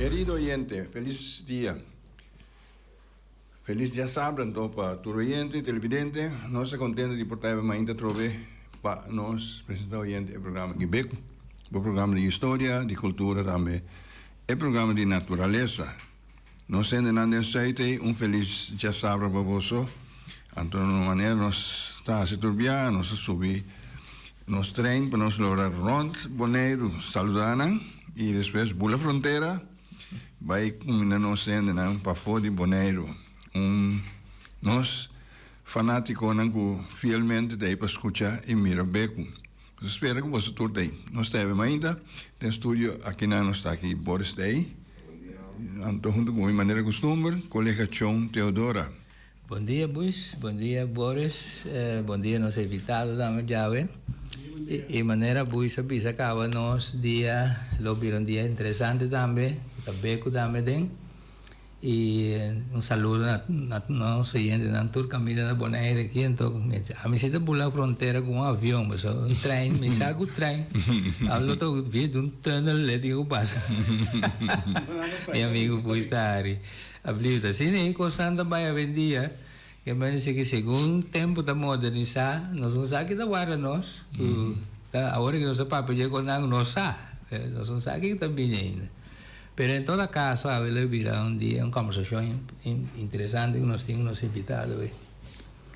Querido oyente feliz dia feliz dia sabra anto pa tur oyente y televidente nos ta contento di por trae bo mainta atrobe pa nos presenta oyente e programa di Beku bo programa di historia di cultura tambe e programa di naturalesa. Nos hendenan den Zuidee un felis djasabra pa boso. Anto na un manera nos ta hasi tur bia, nos a subi nos tren pa nos logra rond Boneiru saluda nan y despues bula frontera bay cuminda nos hendenan pafo di Boneiru. Un nos fanaticonan cu fielmente ta ey pa scucha y mira Beku. Nos spera cu boso tur ta ei. Nos ta hebem ainda den studio akinan nos ta aki Boris Day, Anto hunto cu bo mi manera custumber colega Chon Teodora. Bon dia Buis, bon dia Boris, bon dia nos invitado dame djawe. Y manera Buis a bisa caba nos dia lo bira un dia interesante tambe cu ta becu tambe den. Y un saludo na na nos oyentenan tur camino na Bonaire aki anto a mi si ta bula frontera cu un avion pues un trein mi sa cu trein a lo ta via di un tunnel le tin cu pasa mi amigo Bush ta hari ablieft asi ne e cosnan ta bay awendia ke mester ke segun tempo ta modernisa nos no sa kita warda nos cu ta awor nos ta papia di e cosnan nos sa nos no sa kiko ta bini ainda. Pero en toda caso awe lo bira un dia un conversacion interesante cu nos tin cu nos invitado awe.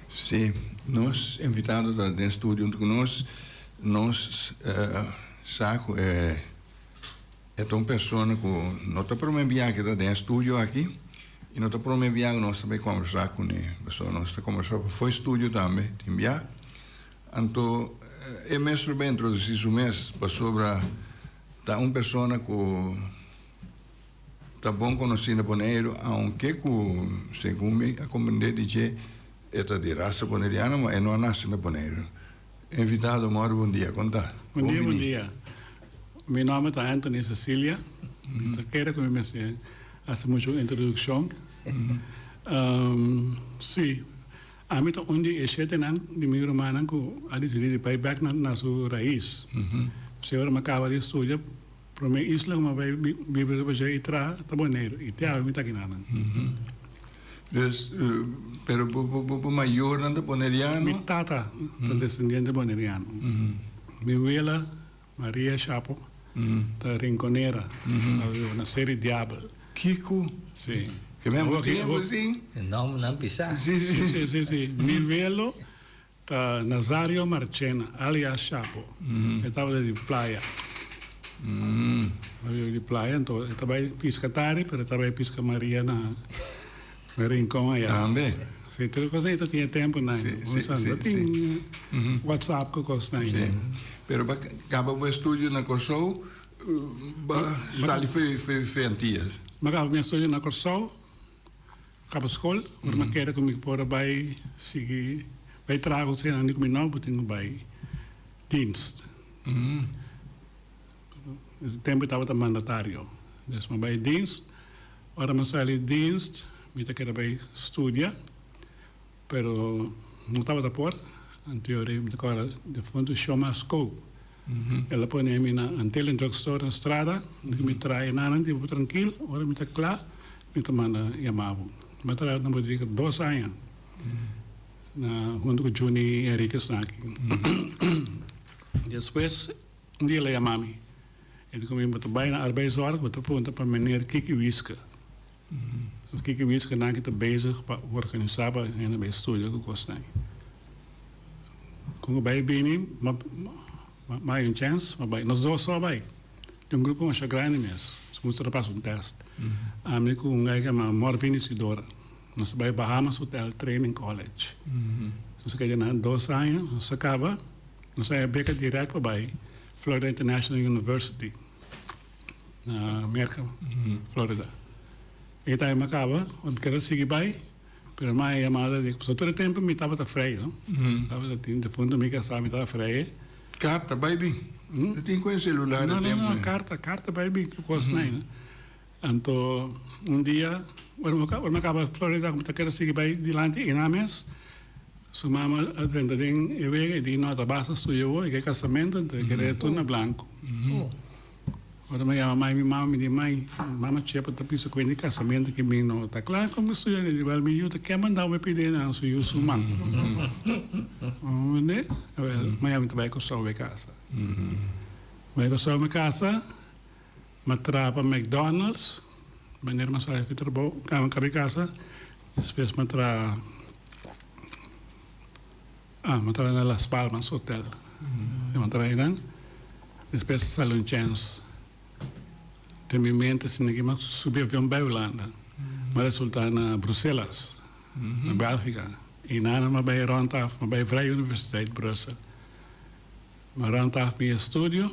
Si, nos invitado ta den studio hunto cu nos. Nos sa cu e ta un persona cu no ta prome bia cu ta den studio aki y no ta prome bia cu nos ta bay conversa cu ne, pasobra nos ta conversa pafo studio tambe tin bia. Anto e mes lo bay introduci su mes pasobra Ta un persona cu ta bon conoci na Boneiru, aunke cu segun mi a comprende di dje e ta di rasa Boneriano, ma e no a naci na Boneiru. Invitado Mor, bon dia, con ta? Bon dia, bon dia. Mi nomber ta Anthony Cecilia. Mi ta kere cu mi mester haci mucho introduccion. Si. Ami ta un di e shetenan di mi rumannan ku a desidí di bai bèk na su rais. P'esei ora mi a kaba di studia, promé isla ku mi a bai biba riba dje i traha ta Boneiru, i te awe mi ta aki nan. Dus, pero bo mayornan ta boneriano? Mi tata ta desendiente boneriano. Mi wela Maria Chapo ta rinconera, a wiba na serie Diabel. Kiko? Si. Ke men a bo tin, a bo tin? E nomber nan bisa. Si, si. Si, si, si. Mi welo ta Nazario Marchena, alias Chapo. E tabata di playa. E tabata di playa, enton e ta bay pisca tari, pero e ta bay pisca Maria na. Rincon aya. Tambe. Si, tur e cos na ita tin e tempo na aya. Si, si, si. Tin WhatsApp cu cos na aya. Pero ba caba bo estudio na Corsou, ba sali fe antia. Ba caba mi estudio na Corsou, caba scol, ora mi a keda cu mi por a bay sigui bay traha cu esnan di cu mi no por tin cu bay dienst. Dese tempu mi tabata mandatario. Des mi a bai dienst. Ora mi a sali dienst mi ta kere bai studia, pero no tabata por. Anteori mi ta kora difuntu Shoma Skou. El a pone mi na Antelen Drug Store na strada. Unda mi traha nannan di bo trankil. Ora mi ta kla mi ta manda yama bo. Mi a traha na bodega dos aña huntu ku Junie Henriquez aki. Despues. Un dia el a yama mi. El di kominda, Bo ta bai na arbeidsòrg, bo ta punta pa meneer Kiki Wiske. Los Kiki Wiske nan ki ta bezig pa organisá pa hende bai studia ku kosnan. Kon ku bai bini, m'a bai un chèns, m'a bai. Nos dos sò bai. Tin un grupo masha grandi mes. Nos a mustrá pas un tèst. Ami ku un guy ku yama Morvin Isidora. Nos ta bai Bahamas Hotel Training College. Nos a keda na dos aña, nos a kaba. Nos a beka direct pa bai Florida International University na Merca, Florida. E time a caba, mi keda sigui bai, pero mi a haña yamada di, pasobra tur e tempo mi tabata vrij, no? Tabata tin defuntu mi ke a sa mi taba vrij e. Carta bai bin? No tin cu e celular e tempo ei. No, no, no, carta, carta bai bin cu cos nai, no? Anto un dia, ora mi a kaba Florida ku mi ta kere sigui bai dilanti einan mes, su mama a drenta den e wega, e di nota basa suyo awo, e ke kasamentu, anto e kere tur na blanku. Ora mi a yama mai mi mama, mi di, Mai, mama Chepa ta bisa kuenti kasamentu ke mi no ta kla ku mi su yu, e di, Wèl mi yu ta kema nau mi pidi einan su yu su man. Unda? Wèl, mañana mi ta bai Kòrsou bai kasa. Bai Kòrsou mi kasa. M'a traha pa McDonald's, manera m'a sali di trabou, kami kaba di kasa. Despues m'a traha, ah, m'a traha na Las Palmas Hotel, si m'a traha einan. Despues a sali un chèns den mi mente si niki m'a subi avion bai Hulanda. M'a resultá na Bruselas, na Bèlgika. Einanan m'a bai rònt af, m'a bai Vrije Universiteit Brussel. M'a rònt af mi estudio.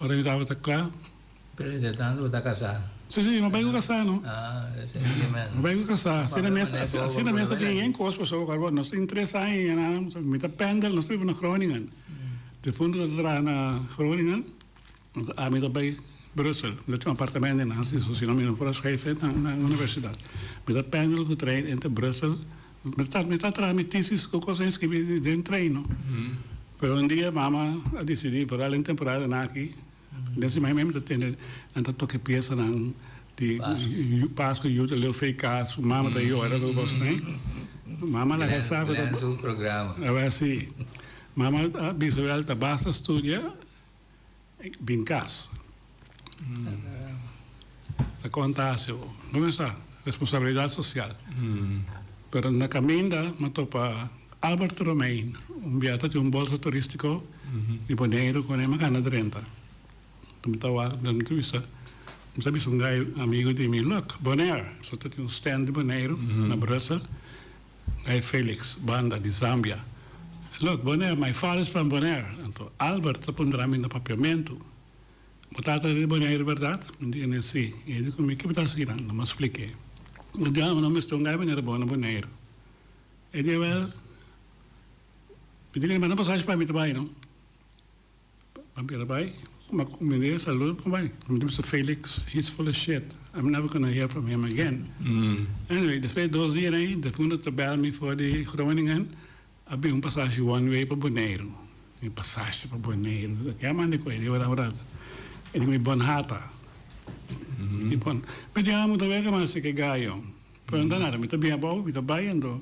Ora mi tabata kla. Pero entre tanto bo ta kasá. Si si mi bai ku kasá no. Mi bai ku kasá asina mes asina mes ta tin yen kos pasobra ku awor nos tin tres aña i ana mi ta pendel nos ta biba na Groningen den punto nos ta traha na Groningen ami ta bai Brussel mi ta tin un apartamento den Nansio so si no mi no por a schrijven na universidad mi ta pendel ku trein entre Brussel Mi ta traha mi tesis cu cos a inscribi den treino. Pero un dia mama a dicidi por dal un temporada na aki. Den sima mi ta tende, nan ta toca e piesanan di Pasco y Yuta Leo Fey Cas. Su mama ta yora cu cos ne. Mama laga e sa cu ta. Glenn su programa. Awe asi. Mama a bisa cu el ta basta studia. Bin cas. Ta conta haci bo. Bo me sa, responsabilidad social. Pero na caminda me topa Albert Romein, un bia ta tin un bolsa turistico di Boneiru cu ne me gana drenta. Cu me ta wak den mi ta bisa, mi ta bisa un gai amigo di mi, look, Bonaire, eso ta tin un stand di Boneiru na Brussel. Guy Felix, banda di Zambia, Look, Bonaire, my father is from Bonaire. Anto Albert ta pondera mi na papiamentu, Bo tata era di Bonaire berdad? Mi di ene, Si. I e di ku mi, Kico ta asina? Lo mas spliké. Mi di, Ah, bo no mester un guy manera bo na Bonaire. E di, Ewel, mi di ku e manda pasashi pa mi ta bai, no? Pa bira bai, ma ku mi dei e salud ku bai. Mi ta bisa Felix, he is full of shit, I'm never gonna hear from him again. Anyway, despues di dos dia na ahi, Defundo ta bel mi for di Groningen, a bin un pasashi one way pa Boneiru. Mi pasashi pa Boneiru, ta kiaman di koe di ora un ratu. E di mi bon hata. Mi bon, mi tin amu ta wega mas di ki gayo, pero no ta nada, mi ta bin abou, mi ta bai andó.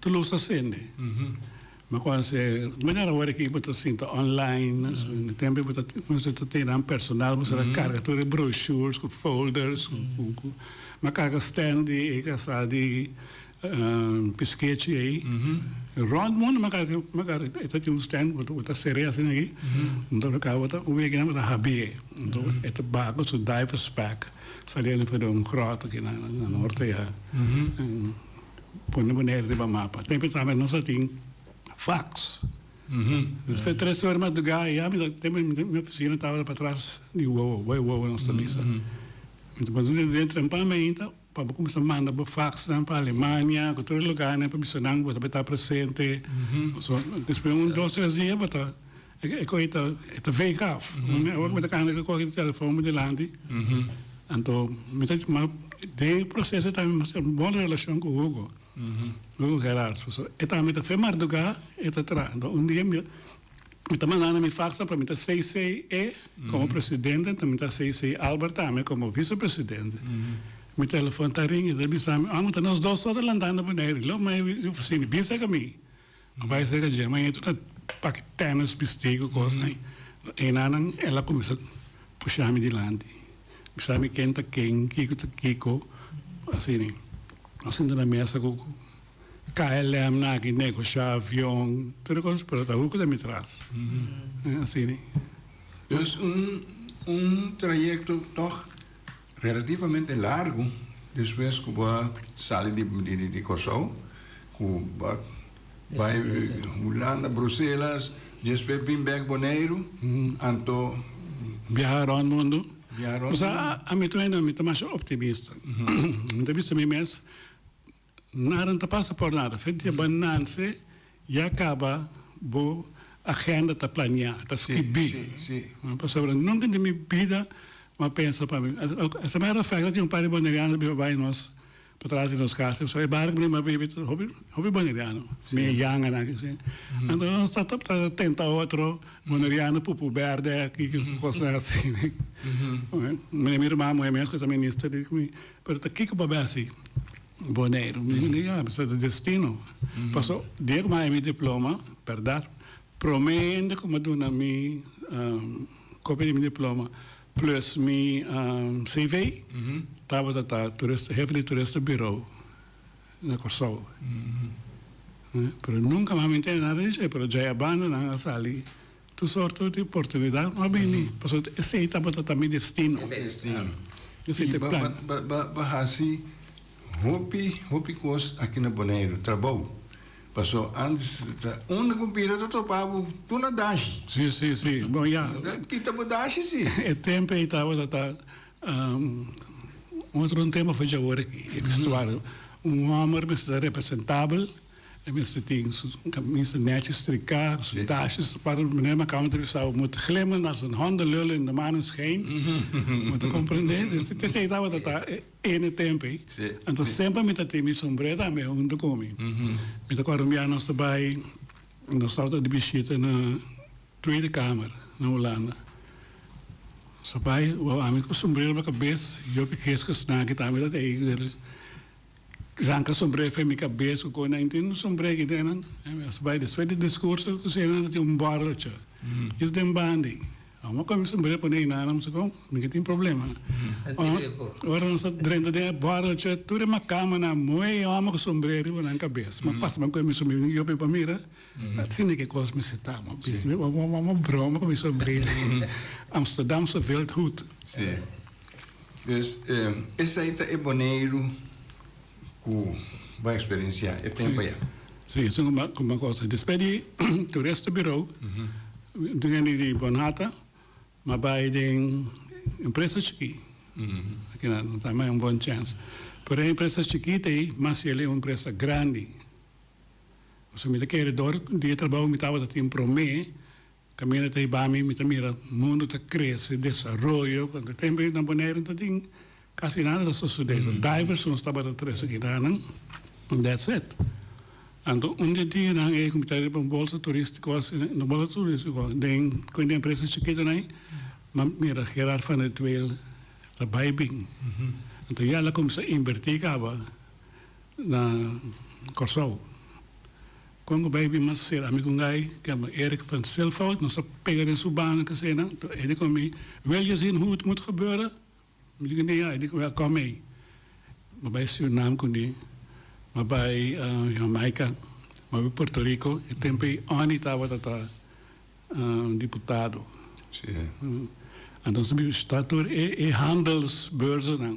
Ta los asende. Mi con se mira awor aki bo ta sinta online, na tempo bo ta bo ta tene nan personal bo ta carga tur e brochures cu folders cu mi a carga stand di e casa di piskechi ey rond mundo mi a carga mi a carga e ta tin un stand bo bo ta sere asina aki ento lo cabo ta un week nan bo ta habi'e ento e ta ba cu su divers pack saliendo for di un groto aki na norte ya. Pone Boneiru riba mapa. Tem e tambe nos a tin fax. Nos ta tres ora madrugá ya. Mi ta, tem mi ta, mi ofisina tabata patras di wowo, bo e wowo nos ta bisa. Mi ta puntra den den tempan mainta pa bo kuminsá manda bo faxnan pa Alemania, ku tur e lugánan pa bisa nan bo ta por e ta presente. Despues un dos tres dia bo ta E cohe ta wake af. Ora cu mi ta canta cu coge e telefoon por dilanti. Anto mi ta, ma den e proceso esta mi haci un bon relacion cu Hugo, Hugo Gerard. Pasobra e tambe ta fe marduga, e ta traha. Anto un dia mi ta manda na mi fax pa mi ta cc e como presidente, anto mi ta cc Albert tambe como vice presidente. Mi telefoon ta ring, e ta bisa mi, Albert, nos dos so ta lanta na Bonaire. Lo mai e oficina, bisa ca mi. Nan bai serka dje, ma eto ta pake tenis, bisti ku kosnan. Enan nan el a kuminsá pushá mi dilanti, bisa mi ken ta ken, kiko ta kiko. Asina e nos sinta na mesa ku KLMnan aki, negoshá avion, tur e kos, pero ta huka den mi tras. Asina e. Pues un trayekto tòg. Relativamente largu despues ku bo a sali di Kòrsou ku bo a bai Hulanda, Bruselas, despues bin bèk Boneiru, anto biaha rònt mundu. Biaha rònt mundu. Kusá ami ta wèn? Ami ta masha optimista. Mi ta bisa mi mes Nada no ta pasa por nada. Fe dia bo a nance ya caba bo agenda ta planea, ta scribi. Pasobra nunca di mi bida bo a pensa pa mi. Esa mera fe ta tin un par di Bonerianos a biba bay nos patras di nos casa. Pasobra e barrio cu mi a biba ta hopi hopi Boneriano, mi e yanga nan aki asina. Anto nos ta ta tenta otro Boneriano pupu berde aki, cosnan asi. Mi hermano moe mes cu ta minister di cu mi. Pero ta kiko pa besi Boneiru? Mi bini ya, mester ta destino. Paso, dia ku mi a haña mi diploma, berdad, promé hende ku mi a duna mi kopia di mi diploma plus mi CV, tabata ta turista, hefe di turista birou na Kòrsou. Pero nunka mi a haña mi ntende nada di dje, pero djai a banda nan a sali Tur sorto di oportunidat lo a bini pasobra esei tabata ta mi destino. Esei esei ta plan. I bo hasi hopi hopi kos aki na Boneiru, trabou, paso antes ta unda ku bira ta tropa bo tur na dashi. Si si si bo ya. Ta kita bo dashi si. E tempo ei tabata ta otro un tema for djawoor aki e vestuario un homber mester ta representabel. E mester tin su camisa nechi stricá, su dashes ta para un manera macau ta bisa bo mot glimmen als een hondenlul in de maneschijn. Bo ta comprendé? Despues ta esey tabata ta ene tempo ei. Anto semper mi ta tin mi sombrero tambe hunto cu mi. Mi ta acorda un biaha nos ta bay, nos tabata di bishita na Tweede Kamer na Hulanda. Nos ta bay, wou ami cu sombrero pa cabes, Jopie Geesges naki tambe tabata ei. Ranca sombrero fen mi cabes cu coe nan tin un sombrero aquí den nan as bay despues di discurso cu sena ta tin un borrocho is den bandi amo coe mi sombrero pone eynan amo sa con mi ke tin problema ora nos ta drenta den e borrocho tur e macamanan moe amo cu sombrero riba nan cabes ma pasaban coe mi sombrero yo pe pa mira. Asina ke kos mester ta, m'a bisa. Mi a broma ku mi sombril, Amsterdamse veldhut. Si. Pues, esei ta e Boneiru ku bo a eksperensiá e tempu ayá. Si, esun kumba kos. Despues di Turista Birou, un hende di Bonhata m'a bai den empresa chikí. Aki nan no ta, m'a bai un bon chèns. Pero e empresa chikita ei, mas si el e un empresa grandi. Pasobra mi ta kere dor di e trabou mi tabata tin promé. Kaminda ta ibami mi ta mira mundu ta krese, desaroyo. Ku anto tempu ei na Boneiru no ta tin kasi nada ta sosodé. Lo Diversons tabata tres aki na nan, and that's it. Anto un di e dianan ei ku mi ta riba un bolsa turístiko asi, no bolsa turístiko, den ku un di e empresa chikitonan ei, mi a mira Gerard van der Twehl ta bai bin. Anto ya el a kuminsá invertí kaba. Na Kòrsou. Kon ku bai bin mas ser amigu n'gai kende Erik van Silvoud, nos a pega den su banda kasina. Toh e di ku mi, Wil je zien hoe het moet gebeuren? Mi di ku e, e di ku mi, Kom mee. Mi bai Surinam ku mi, mi bai Jamaika, mi bai Puerto Rico. E tempu ei Onnie tabata ta diputado. Anto nos a bishita tur e handelsbeurzennan.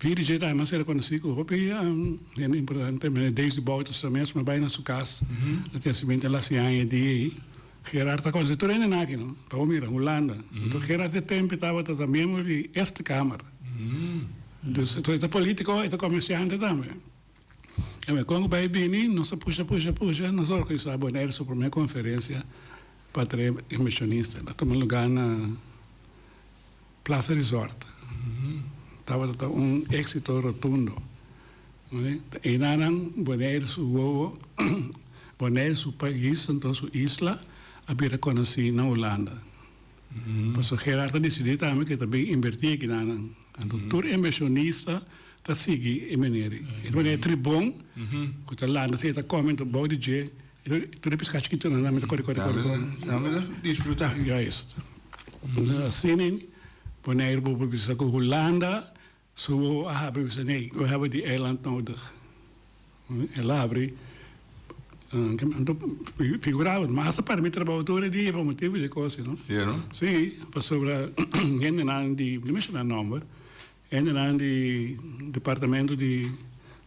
Virgin tambe a ser reconocí cu hopi hende importante. Meneer Desi Bouterse ta mesmo bay na su cas na Testament el haci aña di ey. Gerard ta conoci tur hende naki no. Ta wou mira Hulanda. Enton Gerard e tempo tabata ta miembro di Eerste Kamer. Dus enton e ta politico, e ta comerciante tambe. Oke, con cu bay bini nos a pusha, pusha, pusha, nos a organiza Bonaire su primer conferencia pa trae inversionista. Ta tuma lugar na. Plaza Resort tabata ta un exito rotundo. Eina nan Bonaire su wowo, Bonaire su pais anto su isla a bin reconoci na Hulanda. Paso Gerard a decidi tambe cu e ta bin inverti aki na nan. Anto tur inversionista ta sigui e meneer. E ta manera e tribon cu ta lanta si e ta come anto bou di dje. Tur e piskatje ki tuna nan mi ta kore kore kore kore. Nan mi ta disfruta. Juist. Asina Bonaire bobo bisa ku Hulanda su wowo a habri bisa nee we hebben die eiland nodig. El a habri figurado masa para mi trabou tur e dia pa motibu di e kos ei no. Si pasobra hende nan di no menshona nomber Hendenan di Departamento di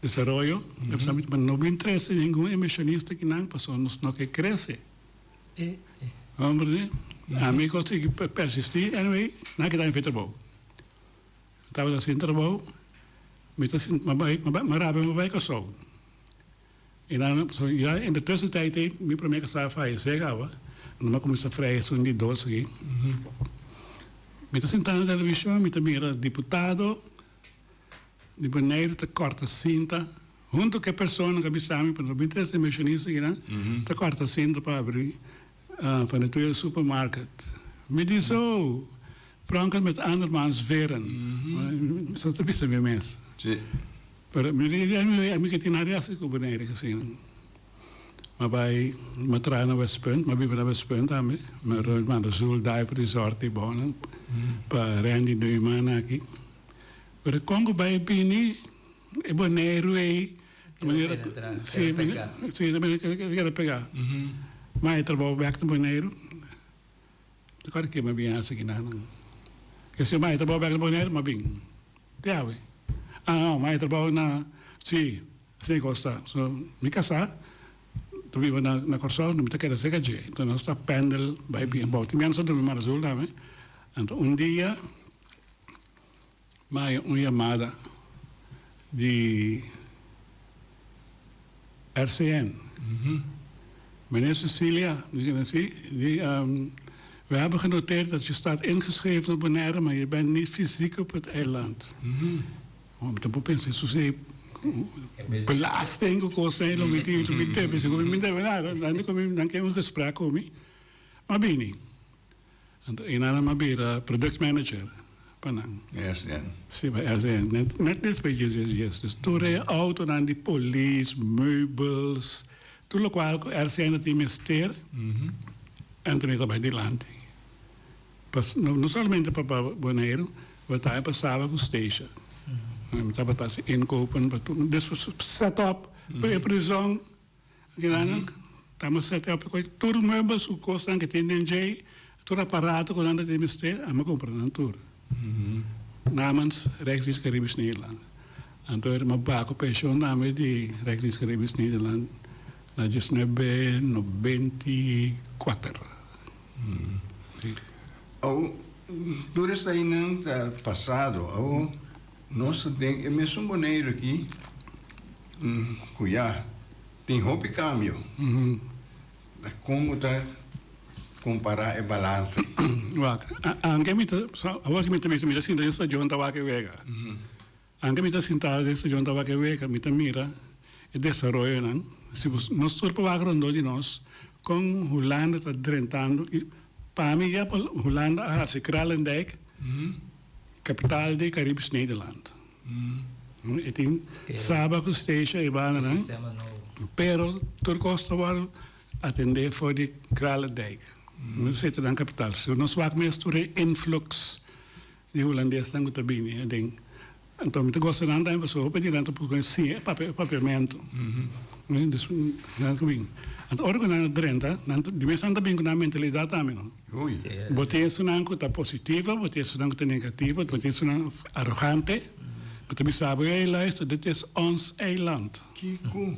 Desaroyo a bisa mi no bin trese ningun inversionista aki nan pasobra nos no ke krese. Homber di ami ku a sigui persisti, anyway nan a keda enfe trabou. Mi tabata sin trabou, mi ta sinti mi a bai mi a bai mi a rabia mi a bai Kòrsou. I nan, so ya entre tres di tijd ei mi promé ke sa fayesé kawa, nan a kuminsá freha esun di dos aki. Mi ta sintá na televishon, mi ta mira diputado di Boneiru ta kòrta sinta huntu ku e persona ku a bisa mi pa nan bin trese inversionista aki nan, ta kòrta sinta pa abri. Van de Toeil Supermarket. Mi di so, Frankrijk met andermans veren. Sa ta bisa mi mes. Pero mi di, a mi ka tin nada hasi ku Bonaire Casino. Mi bai, mi traha na West Punt, mi a biba na West Punt tambe. Mi rui Banda Sul, Dive Resort i bounan pa rendi due man aki. Pero kon ku bai bini. E boneiru ei ta manera ta kere pega ma e trabou bek na boneiru ta kore ke ma bin hasi kina nan ke si ma e trabou bek na boneiru ma bin te awe a no ma e trabou na si asi e kos ta so mi kasa ta biba na Kòrsou mi ta keda serka dje enton nos ta pendel bai bini abou tin biaha nos ta durmi Mar Azul tambe anto un dia. Maya un yamada di RCN, Meneer Cecilia, mi kende si, di, We hebben genoteerd dat je staat ingeschreven op Bonaire, maar je bent niet fysiek op het eiland. Bo ta por pensa esun si belasting ku kosnan lo miti lo miti, mi ta bisa ku mi debe nada, nan ke un gesprek ku mi, m'a bini. Anto e nan a bira product manager pa nan. RCN. Si, pa RCN. Net despues dje dje djes. Dus tur e outonan di polis, meubels, tur lokual ku RCN a tin mester, anto mi ta bai dilanti. Pa, no solamente pa Boneiru, pero tambe pa Saba ku Stacia. Mi tabata hasi inkopen pa tur. Despues set up pa e prizòn. Angelana, Ta mi a set up recoge tur e meubel, su cosnan cu tin den djey, tur aparato cu nan ta tin mester, ami a compra nan tur. Namens Rijks Dienst Caribisch Nederland. Anto e ma ba cu pension tambe di Rijks Dienst Caribisch Nederland na diesnuebe nobenti kuater. Awo tur esainan ta pasado. Awo. Nos ta den e mesun Boneiru aki ku ya tin hopi kambio. Ta kon bo ta kompará e balans ei? Wak, anke mi ta, awor ku mi ta bisa mi ta sinta den stashon Tabake Wega, anke mi ta sinta den stashon Tabake Wega mi ta mira e desaroyonan. Si bo nos tur pa wak rondó di nos kon Hulanda ta drentando i pa mi ya Hulanda a hasi Kralendijk. Capital di Caribes Nederland. E tin Saba cu Steesje ebandanan, pero tur cos ta worde atende for di Kralendijk. Nos seta nan capital. So nos wak mes tur e influx di Hulandesnan cu ta bini aden. Anto mi ta gosta nan tambe pasobra hopi di nan ta busca sin e papiamento. Anto ora cu nan ta drenta, di mes nan ta bini cu nan mentalidad tambe. Bo tin esunnan ku ta positivo, bo tin esunnan ku ta negativo, bo tin esunnan arogante. Bo ta bisa bo, Hey luister, dit is ons eiland. Kiko?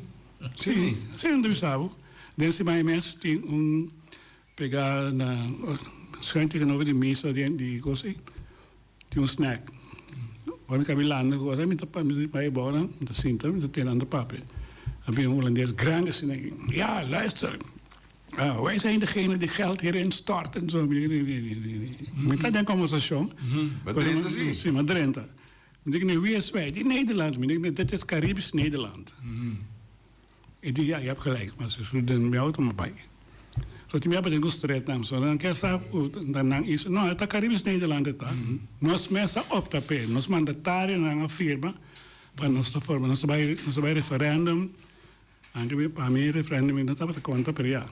Sí, así nan ta bisa bo. Den simaña mes tin un pega na Schuin tegenover di misa den di kos ei, tin un snack. Ora mi kaminda landa ku kos, mi ta bai abou nan, mi ta sinta, mi ta tende nan ta papia. A bin un hulandes grandi asina aki, Ya, luister. Oh, wij zijn degene die geld hierin stort en zo. Mi di, nee, nee, nee. Mi ta den conversacion. Ba Drenthe si? Si, ma Drenthe. Mi di, nee, wie is wij? Die Nederland. Mi di, nee, dit is Caribisch Nederland. E di, ja, je hebt gelijk. Maar ze zullen den mi auto maar bai. So tin mi aba den ku stretnam. So nan ke sa ku ta nan iso? No, e ta Caribisch Nederland e ta. Nos mes a opta p'e. Nos mandatario nan a firma pa nos ta forma. Nos ta bai, nos ta bai referendum. Anke mi pa mi referendum i no tabata kontra pero ya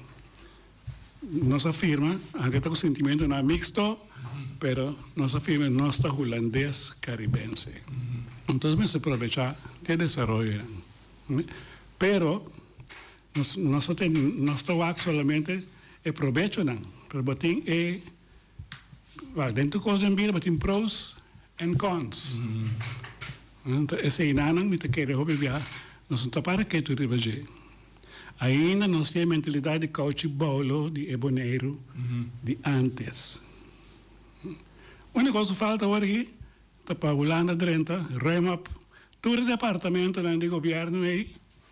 nos a firma anke ta ku sintimentunan mixto pero nos a firma nos ta hulandes karibense entonse mester provechá di e desaroyonan pero nos nos ta wak solamente e probechonan pero bo tin e Wacht, den tur kos den bida bo tin pros en cons. Enta esei nanan mi ta kere hopi biaha nos no ta para ketu riba dje. Ainda nos tin e mentalidat di kouchi bolo di e Boneiru di antes. Unik kos ku falta awor aki ta pa Hulanda drenta, ruim op tur e departamentonan di gobièrnu ei.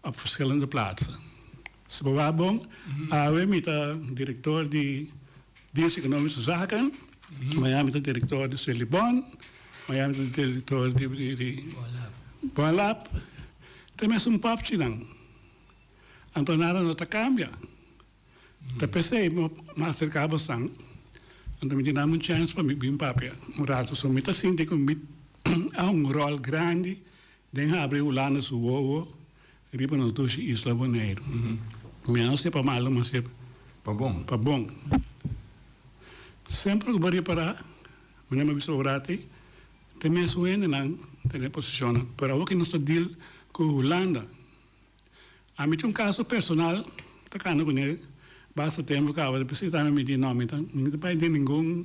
Op verschillende plaatsen. Si bo wacht bon, awe mi ta director di Dienst Economische Zaken, mañana mi ta director di Celibon, mañana mi ta director di Boalab, te mes un popchinan. Anto nada no ta cambia. Ta pesey bo ma acerca bo san, anto mi tin dame un chance pa mi bin papia un rato. So mi ta sinti cu mi a un rol grandi Den habri hulanda su wowo riba nos dushi isla Boneiru. Mi a sepa malu ma se pa bon. Semper ku bo repará mane mi a bisa orati te mes un hendenan ta den e posishonnan. Pero awor ke nos ta dil ku Hulanda ami tin un kaso personal ta kanda kuné basta tempu kaba di bisitami mi di no mi ta mi ta bai den ningun.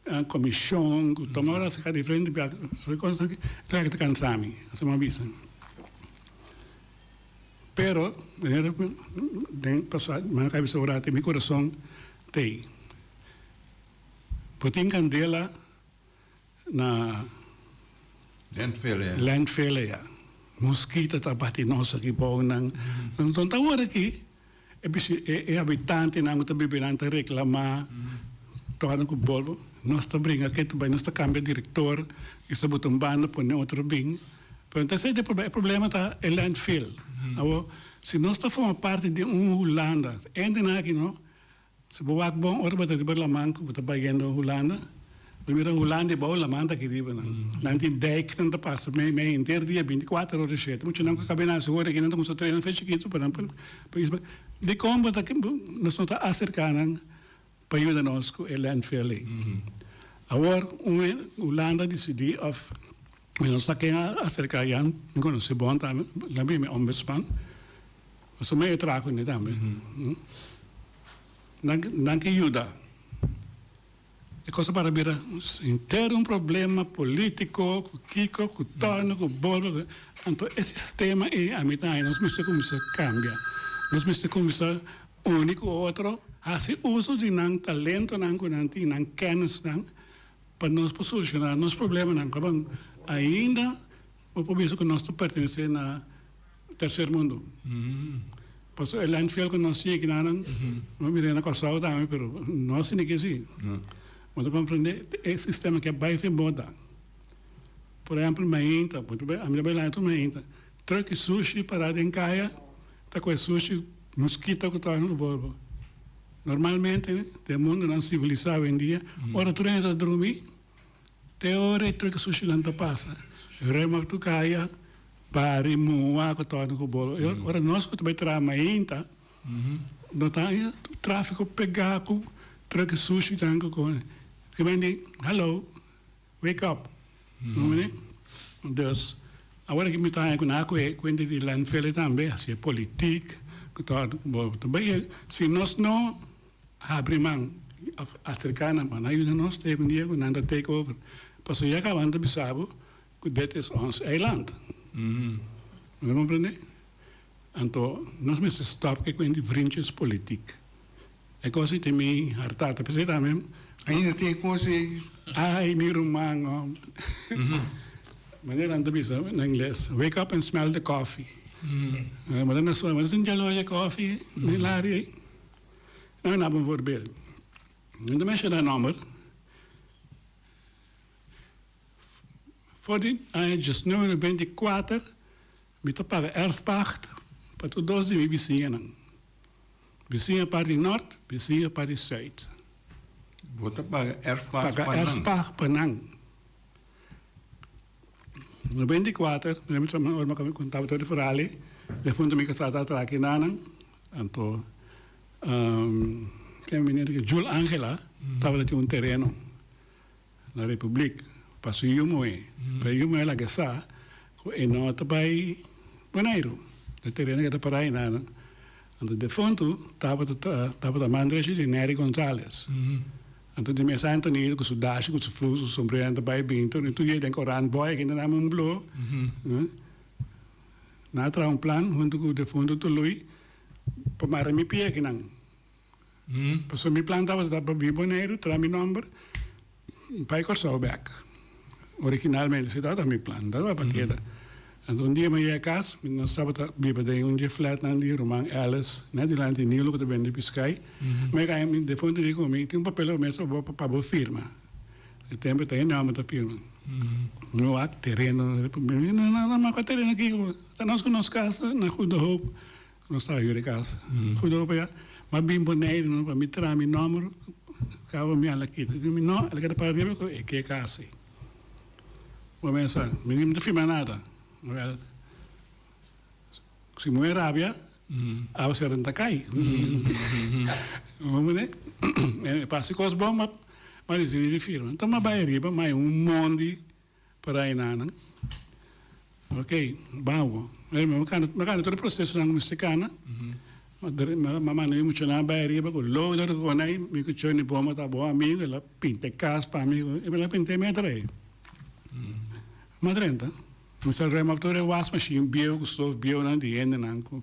a comishon cu toma ora saca diferente biaha soy cos aki claro que ta cansa mi asina bo a bisa pero manera cu den pasa manga cu a bisa ora mi corazon tey bo tin candela na landfele ya mosquito ta bati nos aki bow nan so ta ora aki. E bishi e habitantenan ku ta bibinan ta reklamá torna ku bolbo nos ta bringa kei ta bai nos ta kambia direktor i sa buta un banda pone otro bin pero ta esei ta e problema e problema ta e landfill awor si nos ta forma parti di un hulanda ende nan aki no Si bo wak bon ora bo ta riba laman ku bo ta bayendo Hulanda, bo mira Hulanda e bou laman ta aki riba nan. Nan tin dijk nan ta pasa mes mes henter dia binticuater ora shete. Mucha nan ku a kab'é nase ora aki nan ta kuminsá trena fe chikitu pa nan pa país bo. Dikon bo ta nos no ta aserká nan pa yuda nos ku e landfill ei? Awor un Hulanda disidí òf. Mi no sa ken a aserka Jan, mi konosé bon tambe, labi e mi ombudsman, pasobra mi a e traha ku mi tambe. Nan nan ke yuda. E kos a para bira henter un problema polítiko ku kiko, ku tòrno, ku boro, ku anto e sistema ei a mi ta haña nos mester kuminsá kambia, nos mester kuminsá uni ku otro, hasi uso di nan talentonan ku nan tin, nan kènisnan. Pa nos por solucioná nos problemanan kaban ainda bo por bisa ku nos ta pertenesé na terser mundu. Pasobra e landfill ku nos tin aki na nan, bo a mir'é na Kòrsou tambe, pero nos tin aki si. Bo ta komprendé e sistema aki a bai fin bota. Por ehèmpel mainta, bo a mira bai latu mainta. Turkey sushi pará den kaya ta koe sushi muskito ku tabata na bolbo. Normalmente den mundonan sivilisá awendia ora tur hende ta drumi te ora e turkey sushinan ta pasa remak tur kaya, bari, mua ku tabata ku bolbo. E ora nos ku ta bai traha mainta no ta tur trafiko pegá ku turkey sushinan ku kone. Kiba di hallo Wake up! No mire? Dus, awor aki mi ta haña ku nan a kuhé kuenta di landfele tambe, si e politik ku ta hòrdu ku bo ta bai el. Si nos no habri man òf aserká nan pa nan yuda nos, ta yega un dia ku nan ta take over. Pasobra ya kaba nan ta bisa bo ku det es ons eiland. Bo ta komprendé? Anto nos mester stòp ku e kuent di vrinches politik. E cos y tin mi hartá ta p'esey tambe. Ainda tin e cos y ey. Ay mi ruman hombre. Manera nan ta bisa na ingles, wake up and smell the coffee. Manera nan suma, manera sinti aloe e coffee den laria ey. Nan naba un voorbeeld. Nan ta menshona nomber. For di aña diesnueve beinti kuater Mi ta paga erfpacht pa tur dos di mi bisiñanan, bisiña par di nort, bisiña par di suit. Bo ta paga erfpacht pa nan. Paga erfpacht pa nan. No bindi kuater, mi remember tambe ora mi a kaba konta bo tur e ferali, den punto mi kasa ta atraki nanan, anto ke meneer Jul Angela tabata tin un tereno. na Republiek pa su yumoe, pa e yumoe laga sa ku e no ta bai Boneiru, na e tereno ke ta para aina. Anto defuntu tabata ta tabata mandresha di Neri Gonzales. Anto di mes anta nido ku su dashi, ku su flusu, su sombrero anta bai bintu ni tur yei den koran boya ke nana mun blo. Na traha un plan huntu ku defuntu Tului pa mara mi pia kinan. Pasobra mi plan tabata pa bin Boneiru, traha mi nòmber bai Kòrsou bèk. Originalmente esei tabata mi plan, mi tabata pa keda. Anto un dia mi a yega kas, nos tabata biba den un dje flètnan di ruman Ellis, nèt dilanti Nilo ku ta bende piskai. Mi a kai, mi defuntu a yega ku mi, tin un papel pa mesa pa bo firma. E tempu ta e nòmber ta firma. Mi wak tereno. Mi a biba, no, no, no, no, mi a wak tereno aki, ta nos ku nos kas na Goede Hoop. Nos ta yu di kas. Hudo pa ya ma bin Boneiru no pa mi tra mi nomber kaba mi ala kita. Di mi no el a keda pa riba ku e ke kasi. Bo mesa mi no ta firma nada. Wel si muhé rabia awa sera no ta kai. Pasa kos bon ma disidí di firma. Anto ma bai riba ma hay un mon di. Pa rei nanan. Ok, bauwo. Oye, mi kanda, mi kanda tur e prosesonan ku mester kanda. Mi dere, mi a manda mi muchanan bai ariba ku lodo di konei. Mi ku Johnny Boma ta bon amigu, el a pinta e kas pa mi ku, i el a pinta e meta rei. Mi a drenta, mi sa rema tur e was mashin bieu ku stof bieunan di hendenan ku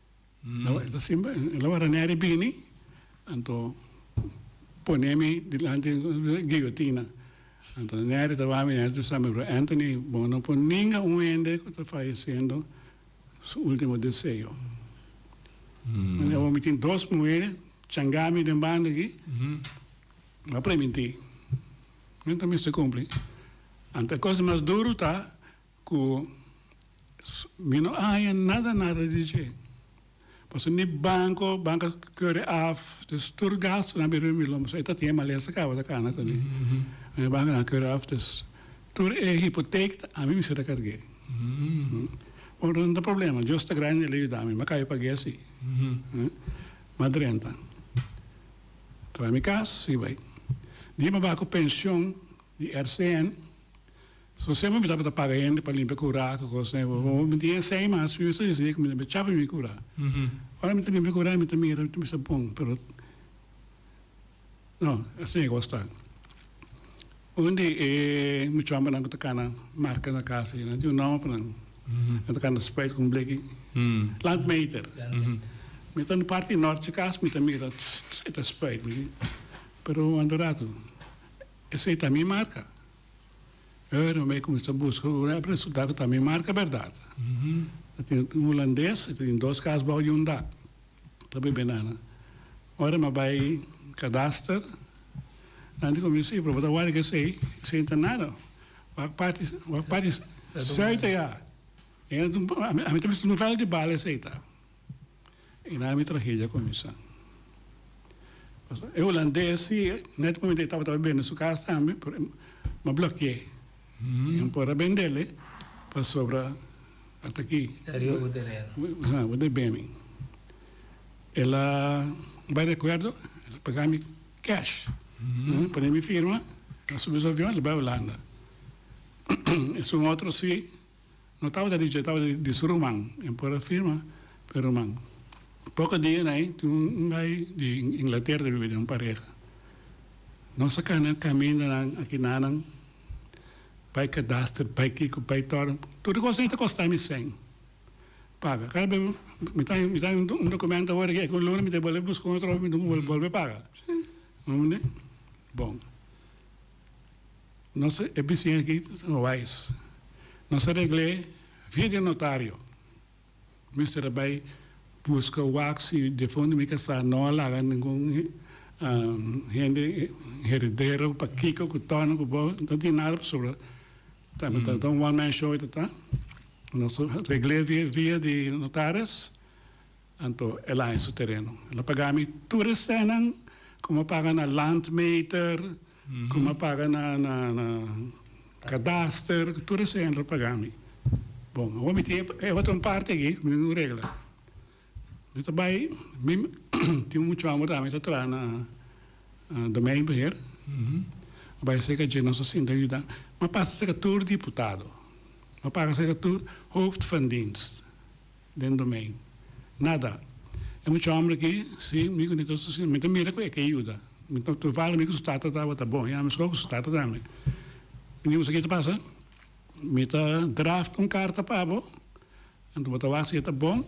Lo e ta simpel, e lo wara Neri bini, anto pone mi dilanti di guillotina. Anto Neri ta wak mi, Neri ta sa mi, Bro Anthony, bo no por ninga un hende ku ta fallecendo su ultimo deseo. Manera awor mi tin dos muhé changá mi den banda aki, mi a premintí. Mi no ta mester kumpli. Anto e kos mas duru ta, Cu mi no haña nada nada di dje. Pasobra ni banco, banca cure af. Dus tur gastunan biba mi lo e ta tin e malesa caba ta cana cu mi. Mi bancanan cure af, dus tur e hypotheek ta ami mester ta carg'e. Bo no ta problema, Dios ta grandi, el a yuda mi. Mi a caya pag'e asi. Mi a drenta. Tra mi cas, si bai. Di mi a baha cu pension di RCN. So sema mi tabata paga hende pa limpia kura ku kosnan ei bo mi tin e sei mas mi mester disi ku mi ta limpia chapi mi kura ora mi ta limpia kura mi ta mira mi sa bon pero no asi e kos ta un di e muchamannan ku ta kana marka na kasa nan tin un nomber pa nan nan ta kana spray ku un bleki landmeter mi ta na parti norte kas mi ta mira e ta spray pero mi wanda un ratu esei ta mi marka. Oe no me cuminsa busca un rap resulta cu ta mi marca berdad. Ta tin un Hulandes y ta tin dos cas bao di un dak. Ta bebe nan. Ora mi a bay kadaster nan tin cuminsa y proba ta wari cu esey sin tin nada. Wak parti wak parti sey ta ya. Ami ta bisa un veld di bala esey ta. Innan mi tragedia kuminsá. Pasobra e hulandes si net ku e tabata por bende su kas tambe pero e a blokié. E no por a bendel e pasobra ata aki Teriba bo tereno. Aha, bo debe beni. El a bai di akuerdo, el a paga mi cash. El a pone mi firma, el a subi su avion, el a bai Hulanda. Esun otro si. No tabata dichi, e tabata di su ruman. E por a firma pa e ruman. Poko dia na ei, tin un bay di Inglatera ta biba den un pareha. Nos a kana kamindanan, aki nanan, bay kadaster, bay kiko, bay tòrn. Tur e kos ei ta kosta mi sen paga. Kara p'e mi ta mi ta un dokumènt awor aki, un luna mi ta e bolbe buska un otro òf, mi ta bolbe paga. Bo mende? Bon. Nos e bisiña aki ta ser wais. Nos a regl'é via di notario. Mester a bai buska wak si difuntu mi kasá no a laga ningun hende heredero pa kiko ku tòna ku bo no tin nada pasobra ta mi ta un one man show ta ta. Nos a regl'é via di notaris. Anto e laña su tereno. El a paga mi tur e senan ku mi a paga na landmeter, ku mi a paga na kadaster, tur e senan el a paga mi. Bon, awor mi tin e otro un parti aki ku mi tin ku regla. Mi ta bai, mi tin un muchu anu atrás mi ta traha na domeinbeheer, mi a bai seka dje nos hasinda yuda. Mi a pasa seka tur diputado, mi a paga seka tur hoofdvandienst. Den Domein. Nada. E mucha homber aki, si, mi ku Nitosa si, mi ta mira ku e ke yuda. Mi ta trupa ami ku su tata tabata bon, i ami skor ku su tata tambe. Mi di, Usaki ta pasa? Mi ta draft un karta pa bo, anto bo ta wak si e ta bon,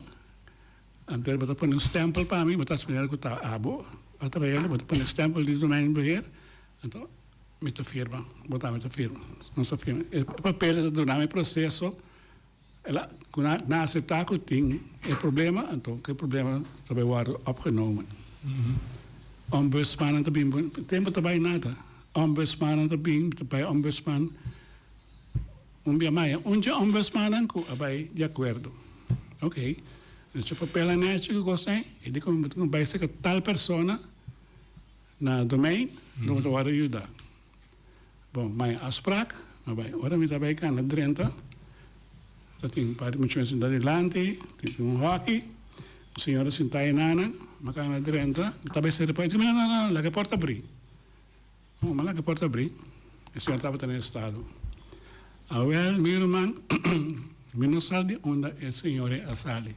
anto bo ta pone un stempel pa mi, bo ta splinera ku ta abo, a trael i bo ta pone e stempel di Domein Beheer, anto mi ta firma. Bo tambe ta firma. Nos ta firma. E papel ta duna mi proseso. El a na aseptá ku tin e problema, anto e problema ta bai wòrdu opgenomen. Ombudsmannan ta bin, tempu ta bai nada. Ombudsmannan ta bin, ta bai ombudsman un bia maya. Un dje ombudsmannan ku a bai di akuerdo. Oke, nos e papel nan hecho ku kos ei, e di ku bo bai saka tal persona na domein, lo bo ta wòrdu yuda. Bon, maya afspraak, no bay. Ora mi ta bay cana Drenthe, ta tin un par di muchanan sinta dilanti, tin tin un hockey, un señora sinta ay nana, mi a cana Drenthe, mi ta bay sera por ay. Dice mi, no, no, no, laga e porta bri. Bon, mi a laga e porta bri, e señora tabata na e estado. Awel, mi ruman, mi no sa di unda e señora a sali.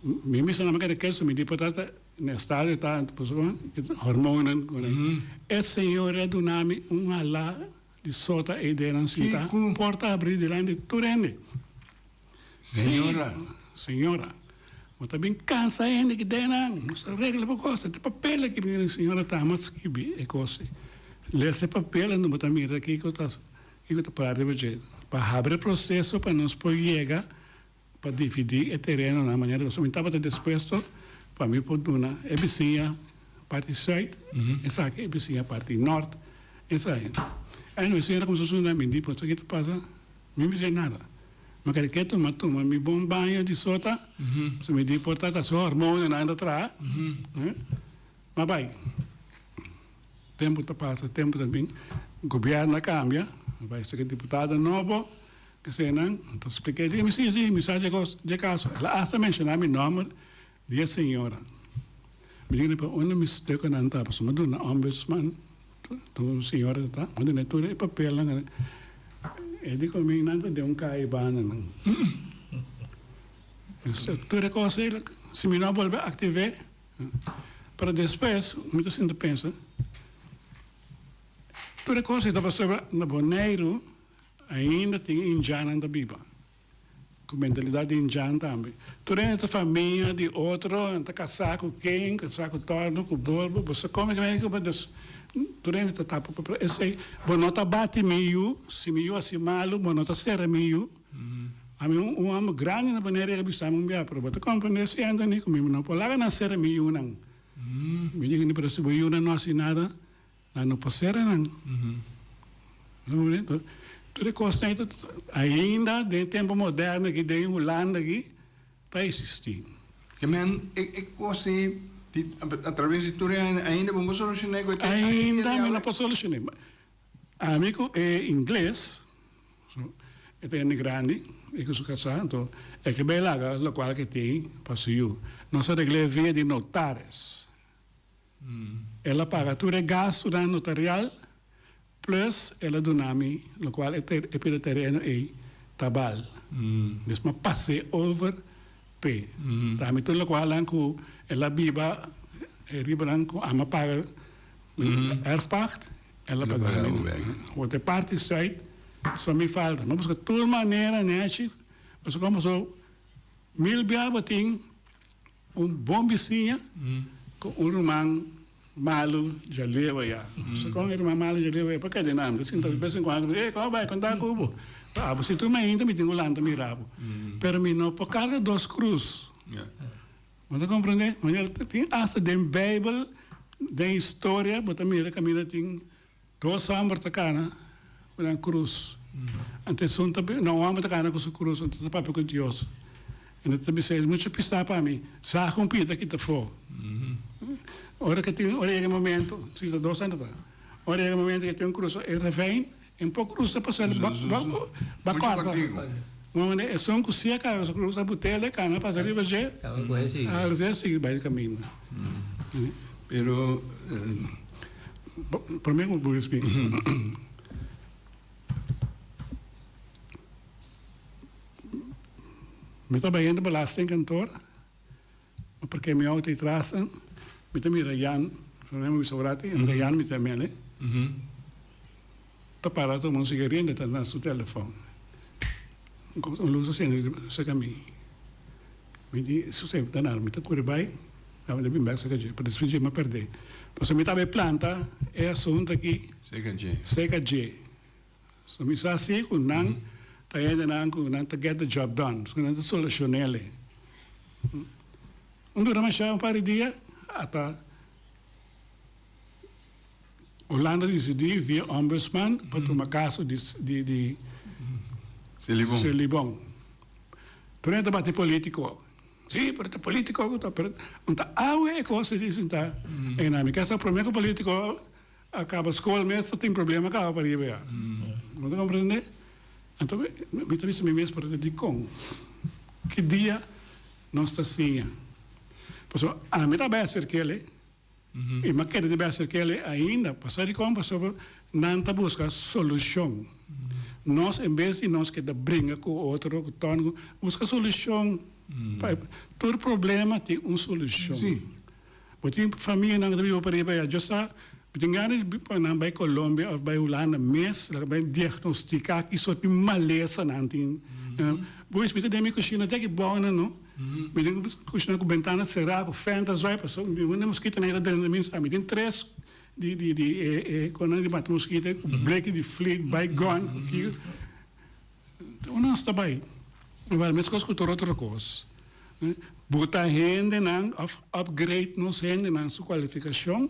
Mi mester na mi keda keso, mi di por tata. Mi a sta di tanta pasobra e ta hormonnan ku nan. E señor a duna mi un alá di sota e ideanan sintá. Kico? Porta abrí dilanti di tur hende. Señora. Sí, señora. Bo ta bin kansa hende ku ideanan. Nos ta regla bo kos. E ta papel aki mi di señora Tama a skibi e kos ei. Lesa e papel unda bo ta mira kico ta kico ta parti pa dje. Pa habri e proseso pa nos por yega. pa dividí e terenonan manera ku mi tabata dispuesto pa mi por duna e bisiña parti sùit, esaki e bisiña parti nòrt. Esei aña e señora kuminsó suna mi, di, Pastor, kiko ta pasa? Mi no bis'é nada. Mi keda ke tuma tuma mi bon baño di sota, pasobra mi di por ta ta su hormonnan a antra traha. Hm, ma bai. Tempu ta pasa, tempu ta bin, gobièrnu a kambia, a bai staka diputado nobo, kesenan ta splika e dje mi, sí, sí, mi sa dje kos, dje kaso, el a hasta menshoná mi nòmber di e señora. Mi yuna pa unda mi sta ku nan ta, pasobra mi duna na Ombudsman, ta un señora ta ta, mi dun'e tur e papelnan ku nan. E di ku mi, nan ta den un kai i banda nan. Tur e kos ei, si mi no a bolbe aktiv'é. Pero despues mi ta sinti pensa, tur e cosa ei ta pasaba na Boneiru ainda tin indiannan ta biba, cu mentalidad di indian tambe. Tur hende ta famia di otro, nan ta casa cu ken, casa cu torno, cu bolbo, bo sa come tambe cu bo nos, tur hende ta tapa, pero esey, bo no ta bati mi yu, si mi yu a haci malo, bo no ta sera mi yu. Ami un homber grandi na Bonaire riba bisami un bia, pero bo ta comprende siento ni cu mi no por laga nan cera mi yunan. Mi dici ni, pero si bo yunan no haci nada, nan no por cera nan. Tur e cos ten ainda den e tempo moderno aki den Hulanda aki ta existi. Oke men, e cos ei di a traves di tur e aña ainda bo no por soluciona cu e ten. Ainda mi no por soluciona. Ami ku e ingles, so e ta hende grandi, e ku su kasá, anto e ke bai laga lokual ke tin pa su yu. Nos a regl'é via di notaris. El a paga tur e gastunan notarial, plus el a duna mi lokual e e pida tereno ei ta bal. Mes m'a pas'é over p'e ta mi tur lokualnan ku el a biba e ribanan ku ami a paga Herfpacht e lo pa dal mi bek. Word e parti Zuid so mi falta. Mi busca tur manera nechi paso como so mil biaba tin un bon bisiña cu un ruman malo dja lewa ya. Paso con e ruman malo dja lewa ya pa keda nan. Mi ta sinta de vez en cuando ey como bai con ta cu bo. Pa abo si tur mainta mi tin cu lanta mi rabo. Pero mi no por carga dos cruz. Bo ta komprendé? Manera ta tin asta den Beibel, den historia, bo ta mira kaminda tin dos hòmber ta kana ku nan krus. Ante esun ta bira, na un hòmber ta kana ku su krus, ante ta papia ku Dios. Ende ta bisa el, No ch'a pistá pa mi, sa ku un pia ta kita afó. Ora ke tin, ora yega e momentu, si ta dos hende ta, ora yega e momentu ke tin un krus, e revein, Un poco luz ta pasa el ba corta manda esun cu si acaso cu luz a butee le cana pasa riba dje alzhee a sigui bay di camino pero prome cu bo spik. Mi ta bayendo belasting kantoor. Mi parkea mi auto ei tras an, mi ta mira Jan, mi no a bisa ugráti, e ta Jan mi ta mele, ta para a tuma un sigaria, mi ta na su telefòn. Un lus a sende riba serka mi, mi di Suse, mi ta nada, mi ta kuri bai, daba mi bin bèk serka dje, pa disfrutá dje mi a pèrdé. Pasobra mi tabata e planta e asuntu aki serka dje. So mi sa si ku nan ta hendenan ku nan ta get the job done, paske nan ta solushon'el. Nan dura mashá un par di dia, ata Holanda disidí via ombudsman pa tuma kaso di Celibon. Pero nan ta bati polítiko. Sí, pero ta polítiko ku ta, pero nan ta awe e kos ta disintá. Ei nan mi ke sa promé ku polítiko A kaba skol mes ta tin problema kaba pariba ya. Bo ta komprende? Anto mi ta bisa mi mes pasobra dikon, ki dia nos ta siña? Pasobra ami ta bèster kele i mi a keda di bèster kele ainda. Pasá dikon? Pasobra nan ta buska solushon. Nos en bes di nos keda bringa ku otro, ku tòntu, buska solushon. Tur problema tin un solushon. Bo tin famianan riba pariba ya. Djosa mi tin gana di pa nan bai Colombia of bai Hulanda mes laga bai diagnostica kiso tin malesa nan tin. Pues mi ta den mi cushina te aki bounan no. Mi tin cushina cu bentana cera cu fenta zui pasobra mi wende mosquitonan yeta drenta mi sa. Mi tin tres di di di e e conan di mata mosquito cu bleki di fleet bai gun cu kico. Un nos ta bai igual meskos ku tur otro kos. Buta hendenan òf upgrade nos hendenan su kwalifikashon.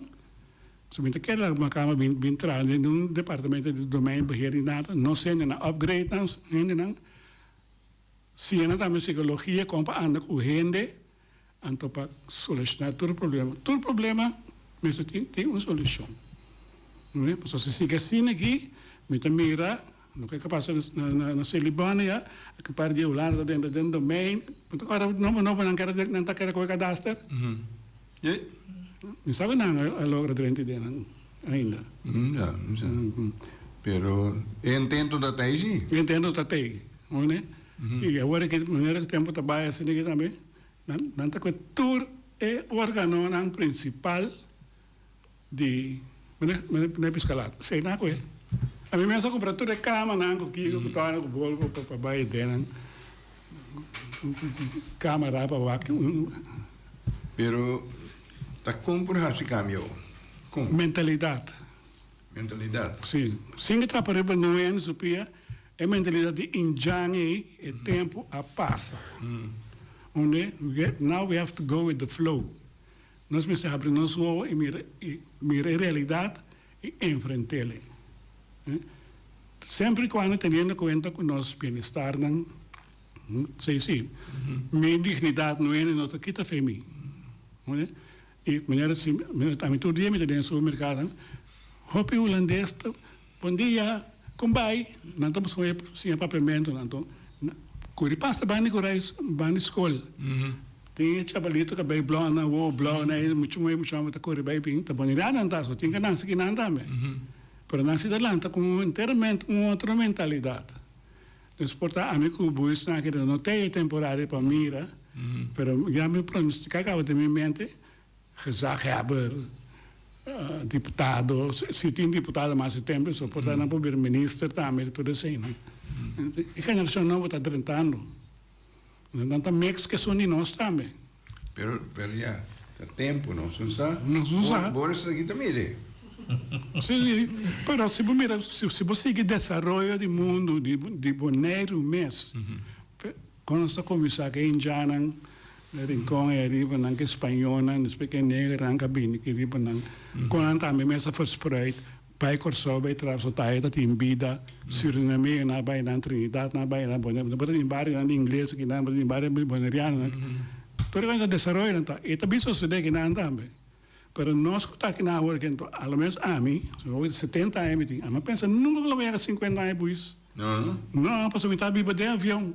So mi ta kere laga mi kama bin traha den un departamento di domein beheer di data. Nos hendenan upgrade nos hendenan. Siña nan tambe psikologia kon pa anda ku hende. Anto pa solucioná tur problema, tur problema mester tin tin un solucion. No e? Pasobra si sigui asina aki, mi ta mira loke ta pasa na na Silibon ya, aki un par di Hulanda ta denter den domein, bo ta ora nobo nobo nan kere nan ta kere kohe kadaster? Ei. Mi sabi nan a logra dren di den ainda. Ja, mi sa. Pero e intento ta ta ei si. E intento ta ta ei, oe ne? Y awor di manera cu tempo ta bay asina tambe, nan ta coge tur e organonan principal di mene piscalata. Esey nan a coge. Ami mes a cumpra tur e camanan cu kiko, cu tona, cu bolbo pa bay e denan. Cama ra pa wak. Pero ta con por haci cambio? Con? Mentalidad. mentalidad. Sí. Sin di trapa riba noe aña su pia, e mentalidad di Indian ei, e tempu a pasa. Hunde? Now we have to go with the flow. Nos mester habri nos wowo i mira i mira e realidad i enfrentel ei. Semper i cuando teniendo cuenta cu nos bienestarnan, hm, sey sí, mi dignidad noe no ta kita fe mi. Hunde? E manera asi, manera ta ami tur dia mi ta den e supermerkadonan, hopi hulandes ta pon di ya kon bai, nan ta busca un ep sin e papiamentonan. Anto nan kuri pasa bandi ku rais bandi skol. Tin e chabalito kabei blon nan, wou blon nan, e muchu moe, muchu hòmber ta kuri bai bin, ta bonidat nan ta aso, tin ke nan siki nan tambe. Pero nan si ta lanta ku un enteramente un otro mentalidat. Nos por ta ami cu bo y snaki do no teye temporari pa mira, pero ya mi pronostica caba den mi mente, gezaghebber, diputado, si tin diputado mas e tempo so por ta nan probeer minister tambe, tur esey nan. E generacion nobo ta drentando. Nan nan ta mix cu esun di nos tambe. Pero, pero ya ta tempo nos un sa. Nos un sa. Bo esaki bo ta mire. Si, si, pero si bo mira, si, si bo sigui desaroyo di mundo di, di Boneiru mes, con nos ta cuminsa cu e indianan den Rincon ey ariba, nan cu e spañonan, despues cu e negernan cu a bini aki riba nan, con nan tambe mes a verspreid. Bai Kòrsou bai trap so tahe ta tin bida. Surinameo na bai nan, Trinidad na bai nan, Boneriano. Bo ta tin barionan di ingles aki nan, bo ta tin bario di bonerianonan. Tur e kos ta desaroyo nan ta. E ta bin sosodé aki nan tambe. Pero nos ku ta aki nan awor ke anto, a lo menos ami, pasobra oca di setenta aña mi tin, ami a pensa nunka ku lo mi yega sinkuenta aña pues. No. No, pasobra mi ta biba den avion.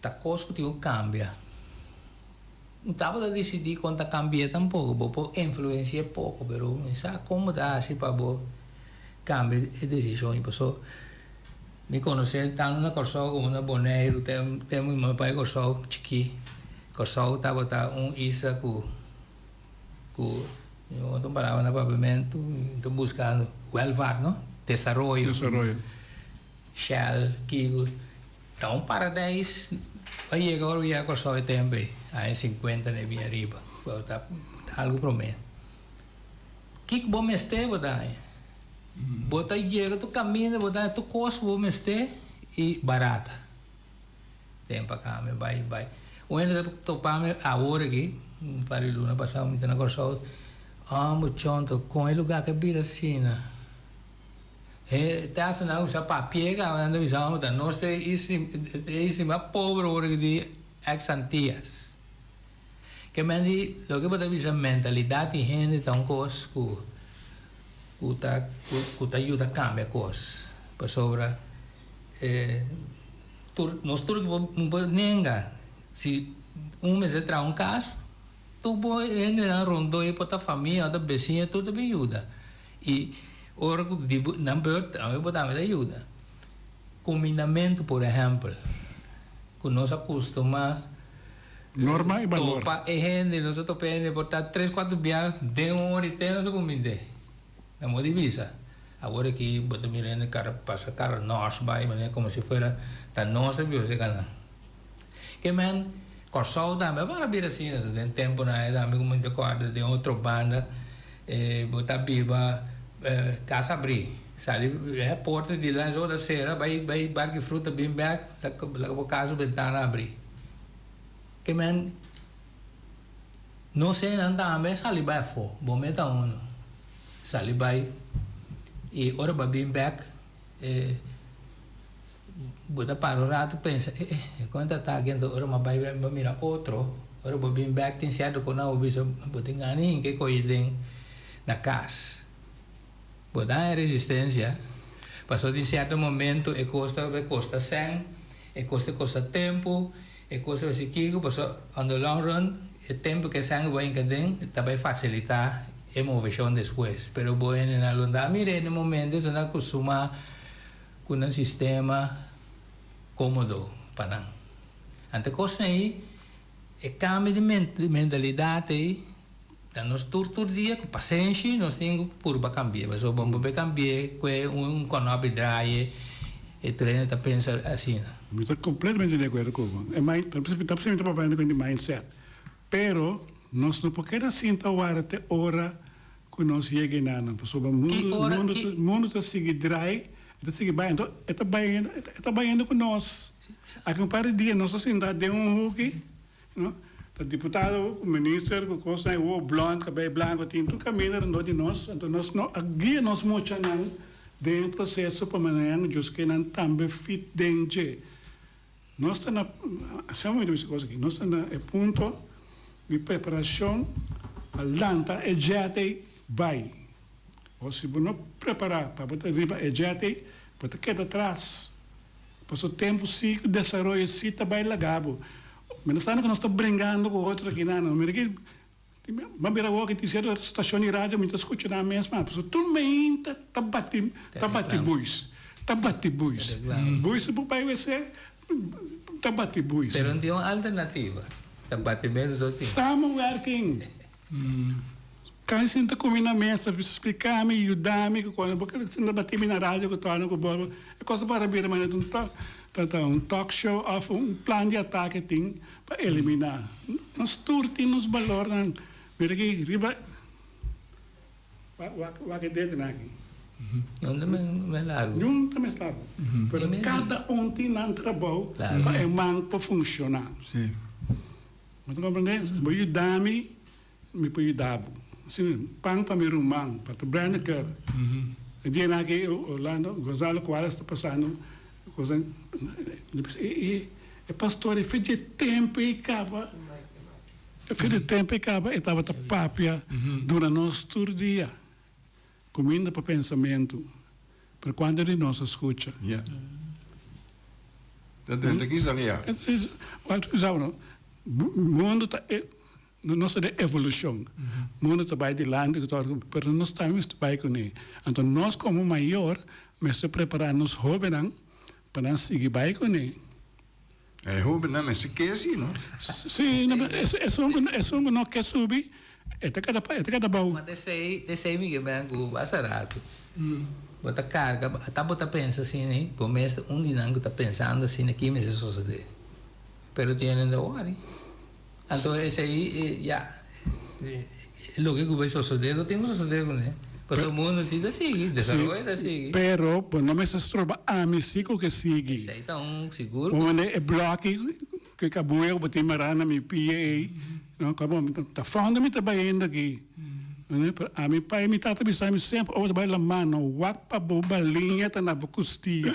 Ta cos cu tin cu cambia. No ta por ta dicidi con ta cambi'e tampoco. Bo por influenci'e poco, pero mi sa con bo ta haci pa bo cambia e decision y paso mi conoce tanto na Corsou como na Boneiru, te te mi mama pa'i Corsou chiki, Corsou tabata un isla cu cu mi mama ta un palabra na papiamento y mi ta buscando welvaart, no? Desaroyo. Desaroyo. Shell, kico. Ta un paradijs pa yega ora bo yega Kòrsou e tempu ei, aña sinkuenta dei bin ariba. Bo ta algu promé. Kiko bo mester bo ta haña? Bo ta yega tur kaminda, bo ta haña tur kos ku bo mester i barata. Tempu a kambia bai bai. Un hende ta topa mi awor aki, un par di luna pasá mi ta na Kòrsou, Hombre chonto, kon e lugá ta bira asina? E ta hasta nan usa papie ka nan ta bisa ora ta nos ta e istima pobre ora ki tin ex antias. Ke menti loke bo ta bisa mentalidad di hende ta un kos ku ku ta ku ta yuda kambia kos pasobra e tur nos tur ki bo nenga si un mester traha un kas tur bo e hendenan rondoe por ta famia o ta besiña tur ta bin yuda. I ora ku di nan beurt ami bo tambe ta yuda. Kominamentu por ehèmpel ku nos a kustumá topa e hende, nos a topa e hende por ta tres kuater bia den un ora i te nos a kumind'é. Nan bo a di bisa, awor aki bo ta mira hende kara pasa kara nòs bai manera komo si fuera ta nos ta bios e kanan. Ke men, Kòrsou tambe a para bira asina ta. Den tempunan ei tambe ku men ta kòrda den otro banda, e bo ta biba kas abrí, sali e porta di lans e bo ta sera, bai bai barki fruta bin bèk, laka bo kas su bentana abrí. Ke men, nos hènan tambe sali bai afó, bo meta unu, sali bai, i ora bo a bin bèk, bo ta para un rato pensa eh eh e kon ta taki enton ora mi a bai a mira otro ora bo a bin bek tin cierto cos nan bo a bisa bo tin gana hinca e coye den na cas bo ta haña resistencia pasobra tin cierto momento e cos ta costa cen e cos ta costa tempo E cosa a si kico paso on the long run e tempo ke sangre bo hinca den ta bay facilita e movecion despues pero bo hende nan lo da mira e momento esey nan costuma cu nan sistema comodo pa nan ante cos nan ey e cambio di mentalidad ey Ta nos tur tur dia cu pasenshi nos tin cu purba cambi'e pasobra bo no be cambi'e cu e un cono a bedraaye e tur hende ta pensa asina. Mi ta completamente di acuerdo cu bo. E mind, ta precisamente papaya na cuenta di mindset. Pero nos no por keda sinta wara te ora cu nos yega e nanan pasobra mundo mundo ta sigui draai e ta sigui bay enton e ta bay e ta bayendo cu nos. Aki un par di dia nos ta sinta den un huki. No ta diputado ku minister ku kosnan e wowo blond kabei blanko tin tur kaminda rondó di nos anto nos no a guia nos muchanan den e proseso pa manera nan djus ke nan tambe fit den dje nos ta na asina bo mi ta bisa kos aki nos ta na e punto di preparashon pa lanta e djètei bai o si bo no prepara pa bo ta riba e djètei bo ta keda tras. Paso tempu si cu desaroyo si ta bay laga bo. Mientras tanto cu nos ta bringando cu otro aki nan. Lo mira aki, m'a bira awo aki tin cierto stacion di radio mi ta scucha nan mes mas. Paso tur mainta ta bati, ta bati buis, ta bati buis. Buis ta por bay wc, ta bati buis. Pero no tin un alternativa, ta bati bens dos tin. Samuel Werking. Kan sinta ku mi na mesa bisa splika mi, yuda mi ku konta bo keda sinta bati mi na radio ku torna ku bolbo. E kos a para bira manera di ta un talk show of un plan di atake tin pa eliminá. Nos tur tin nos balornan. Mira aki riba wak e dedonan aki. Yon ta mes largu. Yon ta mes largu. Pero kada un tin nan trabou pa e man por funshoná. Bo ta komprendé? Si bo yuda mi, mi por yuda bo. Asina mi pan pa mi ruman, pa ta brèna kèr. E dianan aki Orlando Gonzalo Cuadras ta pasando kosnan di bisa, e, e, e pastor e fechi e tempu ei kaba, e fechi e tempu ei kaba, e tabata papia dura nos tur dia. Cuminda pa pensamentu, pero cuantu di nos a scucha? Ya. Ta drenta kisa di ya. Walter bisa bo no, mundu ta e, nos ta den evolucion, mundu ta bay dilanti cu todo, pero nos tambe mester bay cune. Anto nos como mayor mester prepara nos hobennan pa nan sigui bay cune. E hobennan mester ke así, no? Sí, esun ku esun ku no ke subi, e ta kada e ta kada bou. Koma ta esei, ta esei mi ke ben ku bo hasta ratu. Bo ta karga, ata bo ta pensa asina ei, bo mes ta un di nan ku ta pensando asina, ki mester sosodé. Pero tiene dor wòri. A so esei e ya loke ku bai sosodé lo tin ku sosodé kuné paso mundu si ta sigui desaroyo ta sigui. Sí, pero bo no mester stroba ami si ku ke sigui. Esei ta un sigur ku. Bo manda e bloki ku e kabuya ku bo tin mará na mi pia ei no kaba bo ta ta fònde mi ta baiendo aki nunde pero a mi pai mi tata a bisa mi semper o bo ta bai la mano wak pa bo baliña ta na bo kustia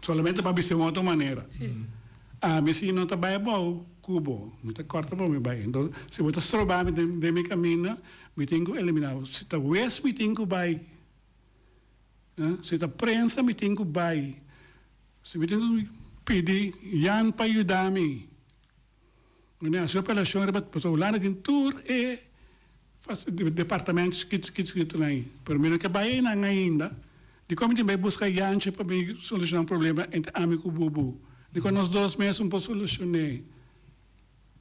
Solamente pa bisa un otro manera. Ami si no ta bai abou cu bo, mi ta corta bo mi bai. Enton, si bo ta stroba mi den mi caminda, mi tin cu elimina bo. Si ta wes mi tin cu bai. Si ta prensa mi tin cu bai. Si mi tin cu pidi Jan pa yuda mi. Mene a hasi operacion riba pasobra Hulanda tin tur e departamento chikito chikito chikitonan ayi pero mi no ke bai einan ainda dikon mi tin bai buska yanchi pa mi soluciona un problema entre ami ku Bubu dikon nos dos mes un por solucione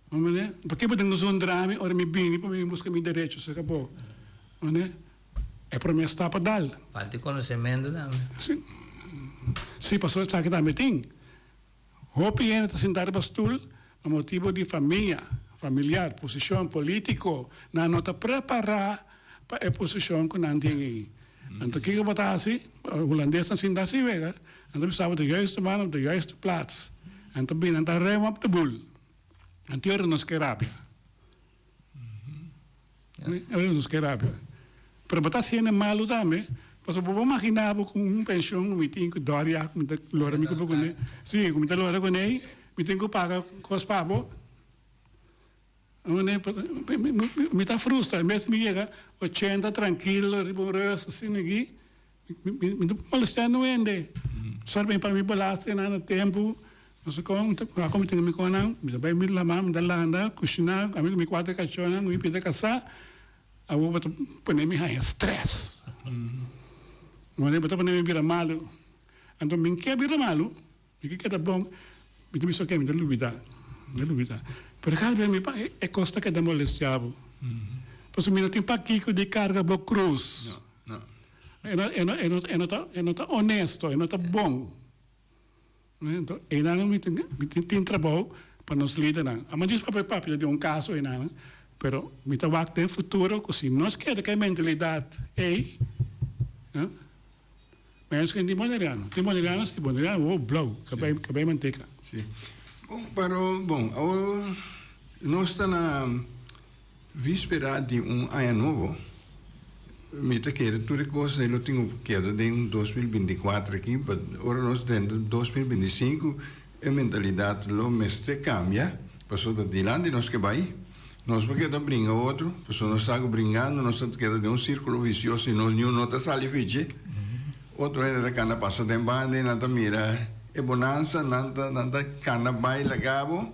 bo mene paki bo tin kusu un drami ora mi bini pa mi buska mi derecho se kabo mane e primer stap a dal. Falta e conocemento tambe. Si pasobra esaki tambe tin. Hopi hende ta sintá riba stul pa motibu di famia, familiar, posishon polítiko. Nan no ta prepará pa e posishon ku nan tin ei. Anto kiko bo ta hasi? Hulandes ta sinta si wega. Nan ta bisa bo de juistu man op de juistu plats. Nan ta bini, nan ta rema op de bul. Antior nos ke rabia. Oye nos ke rabia. Pero bo ta hasiende malu tambe, pasobra bo bo maginá bo ku un penshon ku mi tin ku dòr ya, ku mi ta lora mi kupu kuné. Sí, ku mi ta lora kuné, mi tin ku paga kos pa bo. mi ta frustra, en bes mi yega ochenta trankil riba un ròs asina aki. Mi ta molestea nu hende. Sor bin pa mi bolaster nan na tempu. No sa kon, a kon mi tin mi kon nan. Mi ta bai mi lama, mi ta landa, kushiná. Ami ku mi kuater kachónan ku mi pida kasá, awo bo ta pone mi haña strès. Bo ta pone mi bira malu. Anto, bin ke bira malu? Mi ke keda bon, mi ta bisa oke mi ta lubida, mi ta lubida. Pero kal bia mi pa e kos ta keda molestiabo. Pasobra mi no tin pakiko di karga bo krus. E no e no e no e no ta e no ta onesto, e no ta bon. Enton einan mi tin mi tin tin trabou pa nos lidernan. Amo djis papia papia di un kaso einan, pero mi ta wak den futuro ku si nos keda ku e mentalidat ei, Ma e sken tin boneriano. Tin boneriano si, boneriano wou blou, ka bai ka bai manteka. Si. Bon, pero bon, awor nos ta na vispera di un aña nobo, mi ta kere tur e kos ei lo tin ku keda den dos mil binti kuater aki, pa ora nos denter dos mil binti sinku E mentalidad lo mester cambia, pasobra dilanti nos ke bai, nos por keda bringa otro, pasobra nos sa ku bringando nos ta keda den un sirkulo visioso i nos niun no ta sali fichi. Otro hende ta kanda pasa den banda i nan ta mira e bonansa, nan ta kanda bai laga bo.